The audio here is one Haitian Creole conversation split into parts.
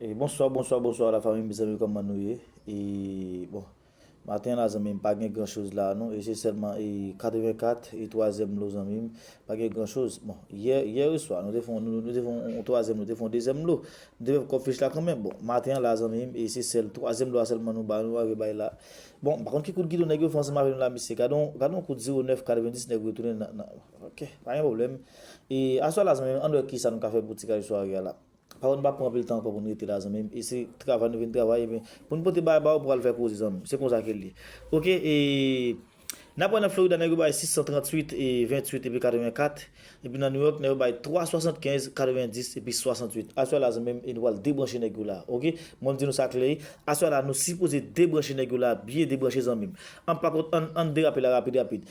Bonswa bonswa bonswa la fanmi mezanmi kòman nou ye e bon maten la zanmi m pa gen gran choz la non e se sèlman e 84 e twazyèm lo zanmi m pa gen gran choz bon yè yè oswa nou te fon nou te fon yon twazyèm nou te fon dezyèm lo m te fè kòk fich la kanmenm bon maten an la zanmi m e se sèl twazyèm lo a sèlman nou bay nou arive bay la bon m pa konn ki kout gidon nèg yo fè ansanm avè nou la mesye gad on gad on kout zero nèf katrevendiz nèg yo retounen nan nan. Ok pa gen pwoblèm e aswè la zanmim ann wè kisa nou ka fè pou ti kay sware a la pafò nou pa pran anpil tan ankò pou nou rete la zanmim e se travay nou vin travay ebyen pou nou pote bagay ba ou pou al fè koze zanmim se konsa ke l ye ok e nap wè nan Florida nèg yo bay 638 e 28 epi 84 epi nan New York nèg yo bay 3 75 90 epi 68 aswè la zanmim e nou pral debranche nèg yo la ok mwen di nou sa klè aswè la nou sipoze debranche nèg yo la byen debranche zanmim ann pa kont ann derape la rapid rapid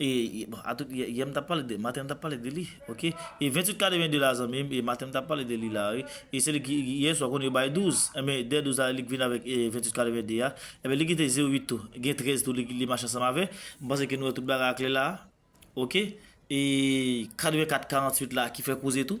E bon atout yè m tap pale de maten m tap pale de li ok e 28 ka deven 2 la zanmi m e maten m tap pale de li la wi e se li ki yè swa konn yo bay 12 enben dè 12 la li k vin avèk 28 ka deven 2 a enben li kite 0 8 tou gen 13 tou li mache ansanm avè m panse ke nou wè tout bagay a klè la ok e 84 48 la ki fè koze tou.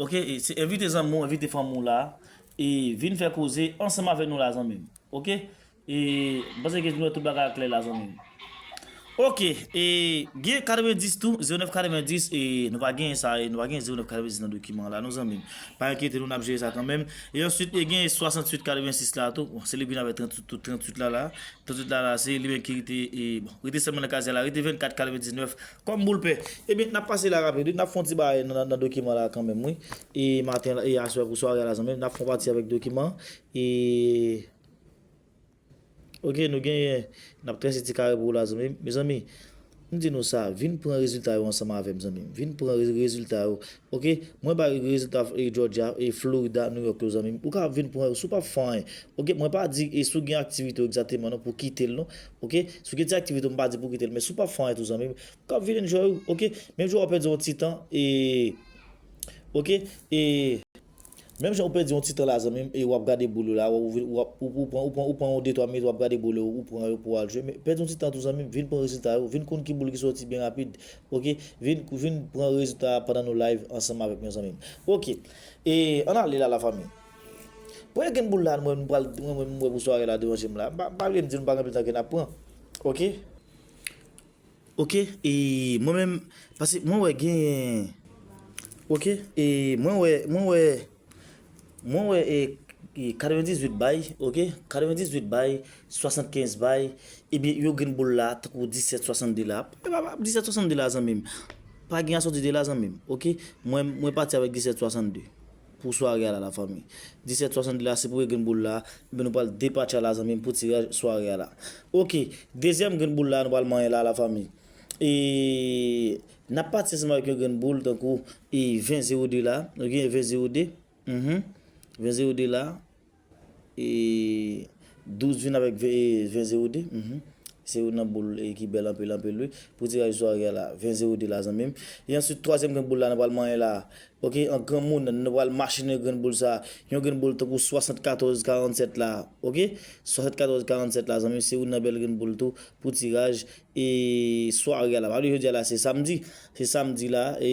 Ok se envite zanmi w envite fanmi w la e vin fè koze ansanm avèk nou la zanmi m ok e m panse ke nou wè tout bagay a klè la zanmi m ok e gen 90 tou 09 90 e nou pa genyen sa nou pa genyen 09 90 nan dokiman la non zanmi m pa enkyete nou n ap jere sa kanmenm e answit e gen 68 86 la tou bon se li k vin avèk 38 la la 38 la la se li menm ki rete e bon rete sèlman nan kazèl la rete 24 99 Kòm boul pen. Ebyen nap pase la rapid wi, nap fon ti bagay nan dokiman la kanmenm wi e maten e aswè pou sware a la zanmim nap fon pati avèk dokiman e ok nou genyen nap trese ti kare pou ou la zanmim mezanmi m di nou sa vin pran rezilta yo ansanm avèm zanmim vin pran rezilta yo ok mwen bay ou rezilta e jòdja e florida nouyòk yo zanmim ou ka vin pran yo si w pap fè anyen ok mwen pa di e si w gen aktivite w egzateman non pou w kitel non. Ok si w gen ti aktivite m pa di pou w kite l men si w pap fè anyen tou zanmi m kab vin enjoy ou ok menm jan w pèdi yon ti tan e ok e menm jan w pèdi yon ti tan la zanmi m e w ap gade boul ou la ou pran yon de twa minit w ap gade boul ou ou pran yo pou w al jwe pèdi yon ti tan tou zanmi m vin pran rezilta yo vin konn ki boul ki soti byen rapid ok vin pran rezilta pandan nou live ansanm avèk mwen zanmi m ok e ann ale la la fanmi. Pwèl gen boul la mwen pral mwen menm mwen pou sware la devan jem la pa pa vle dim pa gen pitan ke nap pran ok. Ok e mwen menm pase mwen wè genyen ok e mwen wè mwen wè mwen wè e 98 bay ok 98 bay 75 bay ebyen yo gen boul la tankou 17 62 la epa pa 17 62 la zanmim pa gen asòti de la zanmim ok mwen mwen pati avèk 17 62. Pou sware a la la fanmi. 17 62 la se pou e grenn boul la ebyen nou pral depatcha la zanmim pou tiraj sware a la ok dezyèm grenn boul la nou pral manyen la la fanmi e nap pati ansanm avèk yon grenn boul tankou e 20 02 la nou genyen 20 02 humm 20 02 la. E 12 vin avèk 20 0 2 Uhmm se youn nan boul ki bèl anpil anpil wi pou tiraj sware a la 20 0 2 la zanmim e answit twazyèm grenn boul la nou pral manyen la ok an granmoun nou pral machinen grenn boul sa yon grenn boul tankou 74 47 la ok 74 47 la zanmim se youn nan bèl grenn boul tou pou tiraj e sware a la pa bliye jodi a la se samdi se samdi la e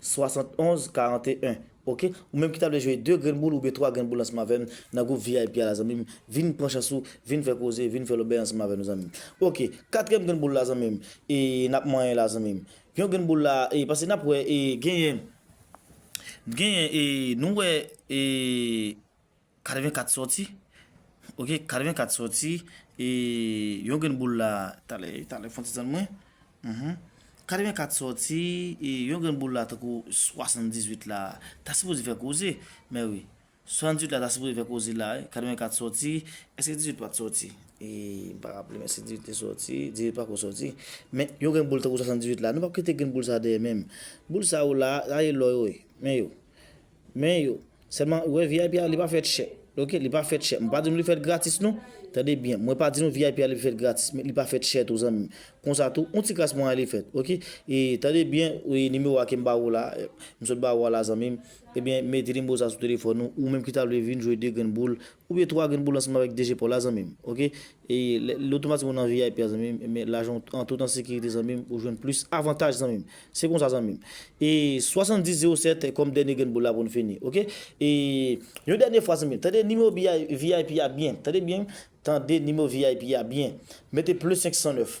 71 41 ok ou menm ki ta vle jwe 2 grenn boul oubyen 3 grenn boul ansanm avèm nan gwoup vip a la zanmim vin pran chans ou vin fè koze vin fè lòbèy ansanm avè nou zanmim ok katriyèm grenn boul la zanmim e nap manyen la zanmim yon grenn boul la e pase nap wè e genyen genyen e nou wè e. 84 sòti ok 84 sòti e yon grenn boul la talè talè fon ti tann mwen mph 84 sòti e yon grenn boul la tankou 78 la ta sipoze fè koze mè wi 78 la ta sipoze fè koze la wi 84 sòti èske 18 pat sòti e m pa raple men si 18 te sòti 18 pako sòti men yon grenn boul tankou 78 la nou pap kite grenn boul sa deyè menm boul sa yo la sa se lò yo ye men yo Men yo. Selman ou wè vip a li pa fèt chè ok li pa fèt chè mwen pa di nou li fèt gratis non tande byen mwen pa di nou vip a li fèt gratis men li pa fèt chè tou zanmim konsa tou yon ti kras moyen li fèt ok e tande byen e nimewo a kem ba ou la m sot ba ou a la zanmim ebyen mete nimewo sa sou telefòn ou ou menm ki ta vle vin jwe 2 grenn boul Ou ye twa grenn pou lansman avèk DG paw la zanmim ok lè otomatikman ou nan vip a zanmim men lajanw an tout an sekirite zanmim ou jwenn plis avantaj zanmim se konsa zanmim e 70 07 kòm dènye grenn boul la poun fini ok e yon dènye fwa zanmim tande nimewo vip a byen tande byen tande nimewo vip a byen mete ple 509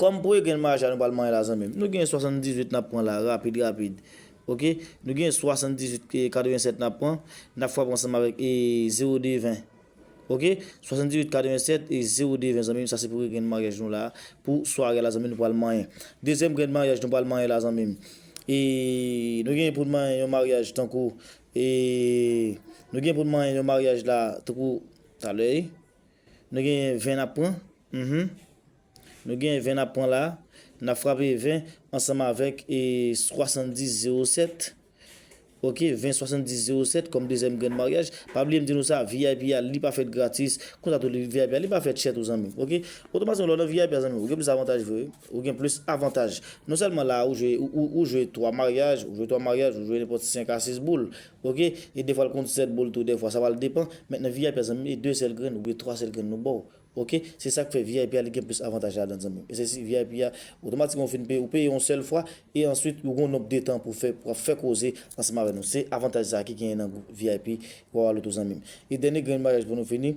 Kòm pou e gen maja nou pral manye la zanmim nou gen 78 nap pran la rapid rapid ok nou gen 78 ke 87 nap pran nap frape ansanm avèk e 0 2 20 ok 78 87 e 0 2 20 zanmim sa se premye grenn maryaj nou la pou sware a la zanmim nou pral manyen dezyèm grenn maryaj nou pral manyen la zanmim e nou gen poun manyen yon maryaj tankou e nou gen poun manyen yon maryaj la tankou talè wi. Nou gen 20 nap pran uhmm. Nou gen 20 nap pran la. Nap frape 20 ansanm avèk 70 07 ok 20 70 07 kòm dezyèm grenn maryaj. Pa bliye m di nou sa vip a li pa fèt gratis konsa tou vip a li pa fèt chè tou zanmi m ok. Otomatikman lè w nan vip a zanmi m ou gen plis avantaj vre wi. Ou gen plis avantaj. Non sèlman la ou jwe ou jwe 3 maryaj ou jwe 3 maryaj ou jwe nenpòt 5 a 6 boul Ok e defwal konn 7 boul tou defwa sa pral depan men nan vip a zanmim e 2 sèl grenn oubyen 3 sèl grenn nou baw ok se sak fè vip a li gen plis avantaj ladann zanmim e se si vip a otomatikman ou fin peye ou peye yon sèl fwa e answit ou gon nonb de tan pou fè wap fè koze ansanm avè nou se avantaj sa ki genyen nan gwoup vip wawa loto zanmim e dènye grenn bagay pou nou fini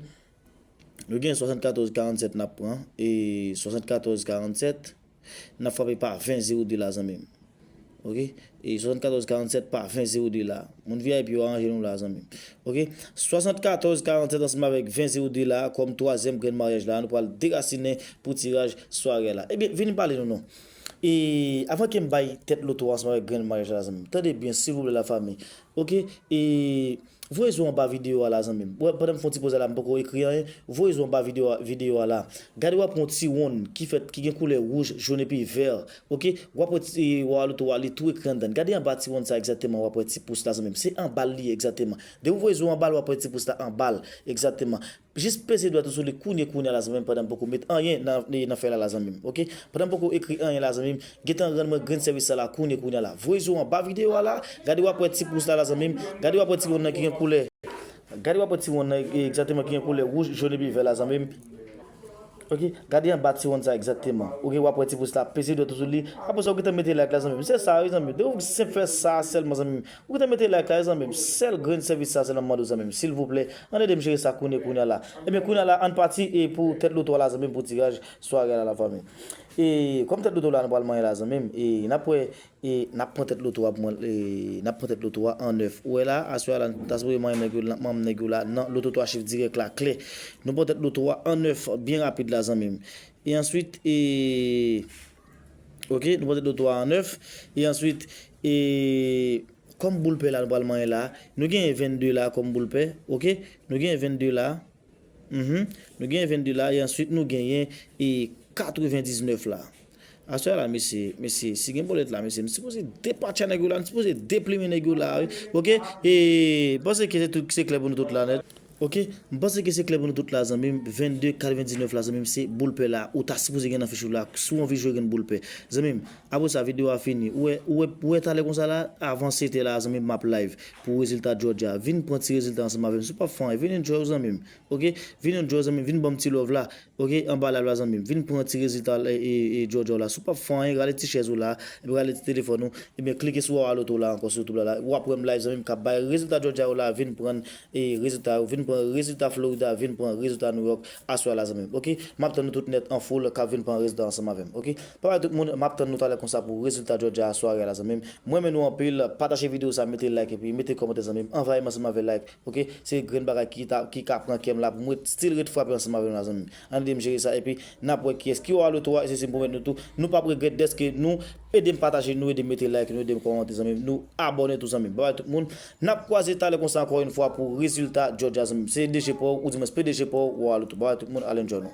nou gen 74 47 nap pran e 74 47. Nap frape pa 20 zero 2 la zanmim ok e 74 47 pa 20 zero 2 la moun vip yo aranje nou la zanmim ok 74 47 ansanm avèk 20 zero 2 la kòm twazyèm grenn maryaj la nou pral derasinen pou tiraj sware la ebyen vin pale nou non e avan kem bay tèt loto a ansanm avèk grenn maryaj la zanmim tande byen silvouplè la fami Ok e Voye zo anba video a la zanmim wè pandan m fon ti poze la m poko ekri anyen voye zo anba video a video a la gade wap wè yon ti wonn ki fèt ki gen koulè wouj jaune epi vèr ok wap wè ti wa a loto a li tou ekri andan gade anba ti wonn sa egzateman wap wè ti pous la zanmim se anbal li ye egzateman depi w voye zo anbal wap wè ti pous la anbal egzateman Jis peze dwèt ou sou li kounye kounye a la zanmim pandan m poko met anyen nan fèy la la zanmim ok pandan m poko ekri anyen la zanmim gentan rann mwen grenn sèvis sa la kounye kounye a la voye je w anba video a la gade wap wè ti pous la la zanmim gade wap wè ti wonn nan ki gen koulè gade wap wè ti wonn nan egzateman ki gen koulè wouj jón epi vè la zanmim. Ok gade anba ti wonn sa egzakteman ok wap wè ti pous la peze dwèt ou sou li apre sa ou gentan mete like la zanmim se sa wi zanmim depi ou senp fè sa sèlman zanmim ou gentan mete like la wi zanmim sèl grenn sèvis sa sèlman map mande w zanmim silvouplè ann edem jere sa kounye kounye la ebyen kounye la ann pati e pou tèt loto a la zanmim pou tiraj sware a la la fanmi e kòm tèt loto la nou pral manyen la zanmim e nap wè E nap pran tèt loto a pou mwen e nap pran tèt loto a an 9 ou wè la aswè a la nou ta sipoze manyen nèg yo manm nèg yo la nan loto 3 chif dirèk la klè nou pran tèt loto a an 9 byen rapid la zanmim e answit e ok nou pran tèt loto a an 9 e answit e kòm boul pè la nou pral manyen la nou genyen 22 la kòm boul pè ok nou genyen 22 la. Nou genyen 22 la e answit nou genyen 99 la. Aswè a la mesye, mesye si gen bolèt la mesye m sipoze depatcha nèg yo la, m sipoze deplimen nèg yo la wi ok e m panse ke se klè pou nou tout la nèt. Ok m panse ke se klè pou nou tout la zanmim 22 99 la zanmim se boul pè la ou ta sipoze gen nan fich ou la si w anvi jwe gen boul pè zanmim apresa video a fini ou wè talè konsa la avan 7 è la zanmim map live pou rezilta Georgia vin pran ti rezilta ansanm avèm si w pap fè anyen vin enjoy w zanmim ok vin enjoy w zanmim vin banm ti love la ok anba live la zanmim vin pran ti rezilta Georgia w la si w pap fè anyen rale ti chèz ou la epi rale ti telefòn ou ebyen klike sou wawa loto la ankò sou youtube la la wap wèm live zanmim kap bay rezilta Georgia yo la vin pran rezilta yo vin pran rezilta Florida vin pran rezilta New York aswè a la zanmim ok map tann nou tout nèt an foul kap vin pran rezilta ansanm avèm ok. Bye bye tout moun map tann nou talè konsa pou rezilta Georgia a sware a la zanmim m renmen nou anpil pataje video sa mete like epi mete kòmantè zanmim anvayim ansanm avè like ok se grenn bagay ki ta ki ka pran kèm la poum ret stil ret frape ansanm avèm la zanmim ann edem jere sa epi nap wè kiyès ki oa le 3 esesi m pwomèt nou tou nou pap regrèt dèske nou edem pataje nou edem mete like nou edem kòmante zanmim nou abòne tou zanmim bye bye tout moun nap kwaze talè konsa ankò yn fwa pou rezilta Georgia zanmim se DG paw ou dimens PDG paw oa le 3 bye bye tout moun al enjoy nou.